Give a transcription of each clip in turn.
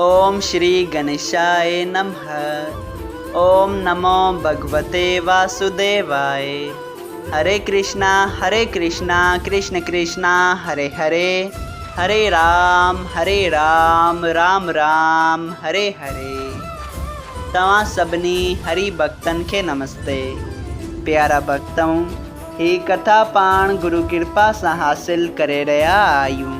اوم شري گنيشائي نمه اوم نمو ڀڳوتي واسوديوائي هري ڪرشنا هري ڪرشنا ڪرشن ڪرشنا هري هري هري رام هري رام رام رام هري هري توهان سڀني هري ڀڳتن کي نمستي پيارا ڀڳتؤ هي ڪٿا پاڻ گرو ڪرپا سان حاصل ڪري رهيا آهيون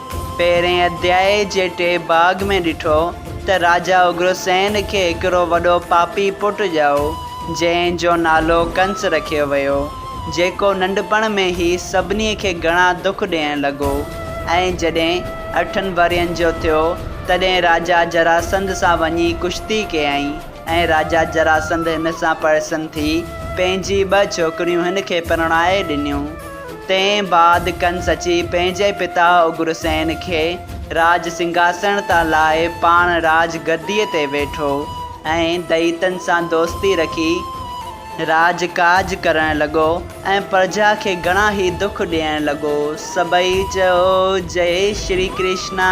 پهرئين اڌياء جي ٽي ڀاڳ ۾ ڏٺو ته راجا اگرسين کي هڪڙو وڏو پاپي پٽ ڄائو، جنهن جو نالو ڪنس رکيو ويو، جيڪو ننڍپڻ ۾ ئي سڀني کي گهڻا دک ڏيڻ لڳو ۽ جڏهن اٺن ورهين جو ٿيو، تڏهن راجا جراسنڌ سان وڃي ڪشتي ڪيائين ۽ راجا جراسنڌ هن سان پرسن ٿي پنهنجي ٻه ڇوڪريون هن کي پرڻائي ڏنيون. تنهن بعد ڪنس اچي پنهنجي پتا اگرسين کي راج سنگهاسڻ تان لائي پاڻ راج گديء تي ويٺو ۽ دئيتن سان دوستي رکي راج ڪاج ڪرڻ لڳو ۽ پرجا کي گهڻا ئي دک ڏيڻ لڳو. سڀئي چئو جئي شري ڪرشنا.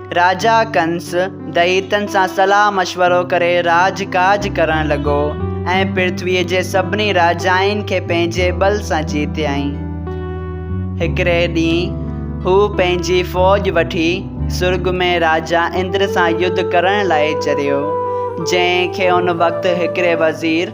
راجا ڪنس دئيتن سان صلاح مشورو ڪري راڄ ڪاج ڪرڻ لڳو ۽ پرٿويء جي سڀني راجائن کي پنهنجي ٻل سان جيتيائين. هڪڙي ڏينهن هو پنهنجي فوج وٺي سرڳ ۾ راجا اندر سان يڌ ڪرڻ لاء چريو، جنهن کي ان وقت هڪڙي وزير،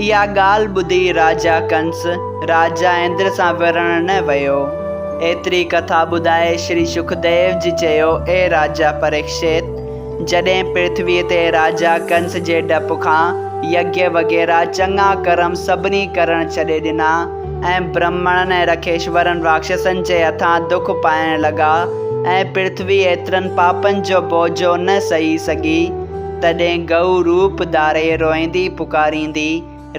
اها ڳالهه ٻڌي راجا ڪنس راجا اندر سان وڙهڻ نه ويو. ايتري ڪٿا ٻڌائي شري شڪديو جي چيو، اي راجا پريڪشت! جڏهن پرٿويء تي راجا ڪنس جي ڊپ کان يگيا وغيره چڱا ڪرم سڀني ڪرڻ ڇڏي ڏنا ۽ برهمڻن ۽ رکيشورن راڪشسن جي هٿان دک پائڻ لڳا ۽ پرٿوي ايترن پاپن جو بوجهو نه سهي سگهي، تڏهن گئو روپ ڌاري روئيندي پڪاريندي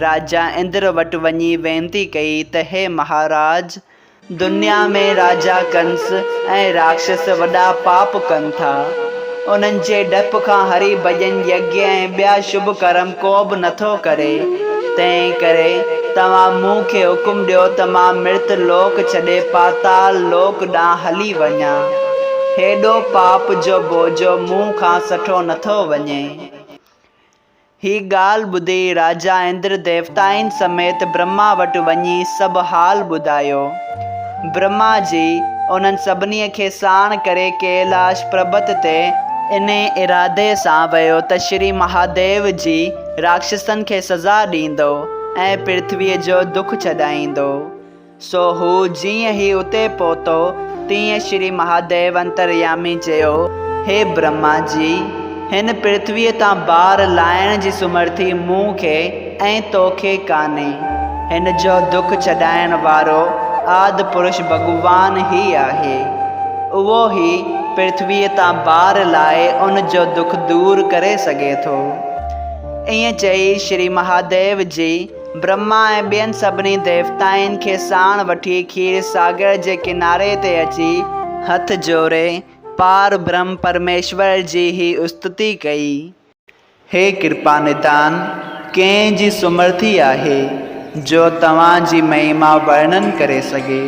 راجا اندر وٽ وڃي وينتي ڪئي ته هي مهاراج! دنيا ۾ راجا ڪنس ۽ راڪشس وڏا پاپ ڪن ٿا. انهن جي ڊپ کان هري ڀڄن يگيا ۽ ٻيا شڀ ڪرم ڪو به نٿو ڪري. تنهن ڪري توهان مون کي حڪم ڏيو ته مان مرت لوڪ ڇڏي پاتال لوڪ ڏانهن هلي وڃان. هيڏو پاپ جو بوجو مون کان سٺو نٿو وڃي. هي ڳالهه ٻڌي راجا اندر ديوتائن سميت برهما وٽ وڃي سڀ حال ٻڌايو. برهما جي انهن سڀني کي ساڻ ڪري ڪيلاش پربت تي، انهي ارادي سان ويو ته شري مهاديو جي راڪشسن کي سزا ڏيندو ۽ پرٿويء جو دک ڇڏائيندو. سو هو جيئن ئي اتي پهتو، تيئن شري مهاديو انتريامي چيو، هي برهما جي! هن پرٿويء تان بار لاهڻ جي سمرٿي مون کي ۽ تو کي ڪانهي. هن جو دک ڇڏائڻ وارو آد پرش ڀڳوان هي آهي. اهو ئي پرٿويء تان بار لاهي ان جو دک دور ڪري سگهي ٿو. ائين چئي شري مهاديو جي برهما ۽ ٻين سڀني ديوتائن کي ساڻ وٺي کير ساگر جي ڪناري تي اچي هٿ جوڙي پار برهم پرميشور جي هي استتي ڪئي. هي ڪرپا نڌان، ڪنهن جي سمرٿي آهي، جو توهان جي مهيما ورنن ڪري سگهي.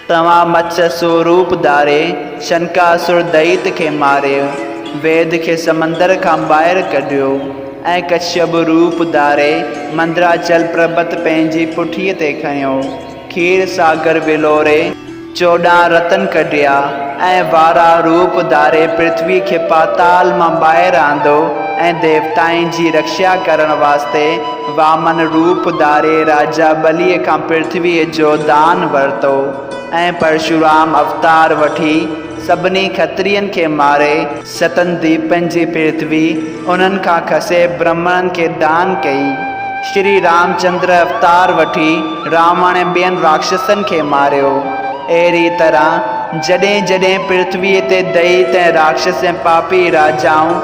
توهان مڇ سو روپ ڌاري، شنڪاسر دئيت کي ماري، ويد کي سمندر کان ٻاهر ڪڍيو ۽ ڪشيپ روپ ڌاري، مندراچل پربت پنهنجي پٺيء تي کنيو، کير ساگر ولوري، چوڏهن رتن ڪڍيا ۽ واراه روپ ڌاري پرٿوي کي پاتال مان ٻاهر آندو ۽ ديوتائن جي رڪشا ڪرڻ واسطي وامن روپ ڌاري راجا ٻليء کان پرٿويء جو دان ورتو ۽ پرشورام اوتار وٺي سڀني کترين کي ماري، ستن ديپن جي پرٿوي انهن کان کسي برهمڻن کي دان ڪئي، شري رامچندر اوتار وٺي راوڻ ۽ ٻين راڪشسن کي ماريو. اهڙيء طرح جڏهن جڏهن پرٿويء تي دئيت ۽ راڪشس ۽ پاپي راجائون،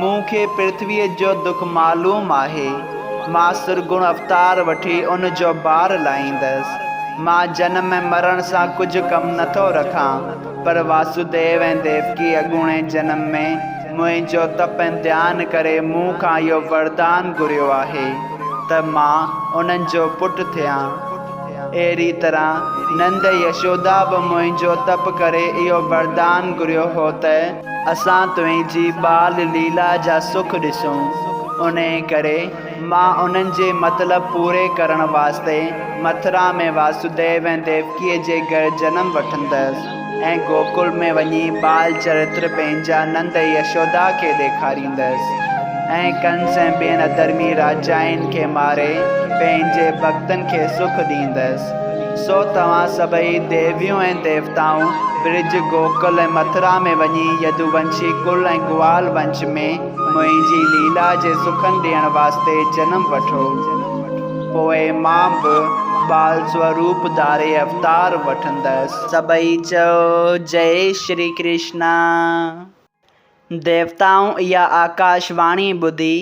مون کي پرٿويء جو دک معلوم آهي. مان سرگڻ اوتار وٺي ان جو بار لاهيندس. مان جنم ۽ مرڻ سان ڪجهه ڪم نه ٿو رکان، پر واسوديو ۽ ديوڪي اڳوڻي جنم ۾ منهنجو تپ ۽ ڌيان ڪري مون کان اهو وردان گهريو آهي ته مان انهن جو پٽ ٿيان. اهڙيء طرح نند ۽ يشودا به منهنجو تپ ڪري اهو وردان گهريو هو ته، اسان تنهنجي ٻال ليلا جا سک ڏسون، انهيء ڪري مان انهن جي مطلب پوري ڪرڻ واسطي مٿرا ۾ واسوديو ۽ ديوڪيء جي گهر جنم وٺندس ۽ گوڪل ۾ وڃي ٻال چرتر پنهنجا نند يشودا کي ڏيکاريندس ۽ ڪنس ۽ ٻين اڌرمي راجائن کي ماري پنهنجي ڀڳتن کي سک ڏيندس. سو توهان سڀئي ديويون ۽ ديوتائون برج گوڪل ۽ مٿرا ۾ وڃي يدوونشي ڪل ۽ گوال ونش ۾ منهنجي ليلا جي سکن ڏيڻ واسطي جنم وٺو. پوء مان به ٻال سوروپ ڌاري اوتار وٺندس. سڀئي چئو، جئي شري ڪرشنا. ديوتائون اها آڪاش واڻي ٻڌي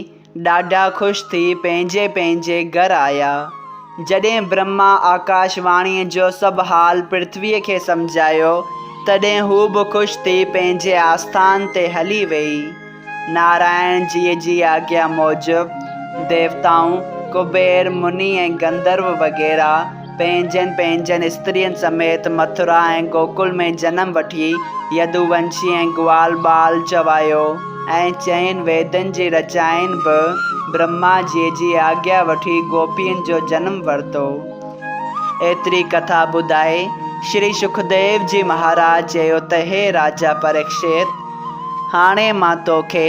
ڏاڍا خوش ٿي پنهنجي پنهنجي گهر آيا. جڏهن برهما آڪاش واڻيء جو سڀ حال پرٿويء کي سمجهايو، تڏهن هوء به خوش ٿي پنهنجي آسٿان تي هلي ويئي. نارائڻ جيء جي آگيا موجب ديوتائون، ڪبير، مني ۽ گنڌرو وغيره، پنهنجن پنهنجن استرين سميت مٿرا ۽ گوڪل ۾ جنم وٺي يدوونشي ۽ گوال بال چوايو ۽ چئن ويدن جي رچائين به برهما جي جي آگيا وٺي گوپين جو جنم ورتو. ايتري ڪٿا ٻڌائي شري شڪديو جي مهاراج چيو ته هي راجا پريڪشيت هاڻي مان توکي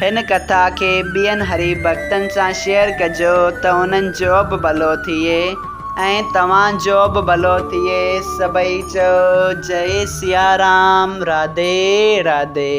هن ڪٿا کي ٻين حريف ڀڳتن سان شيئر ڪجو ته انهن جو به ڀلو ٿئي ۽ توهان جو به ڀلو ٿئي سڀئي چئو جئي سيارام راڌي راڌي.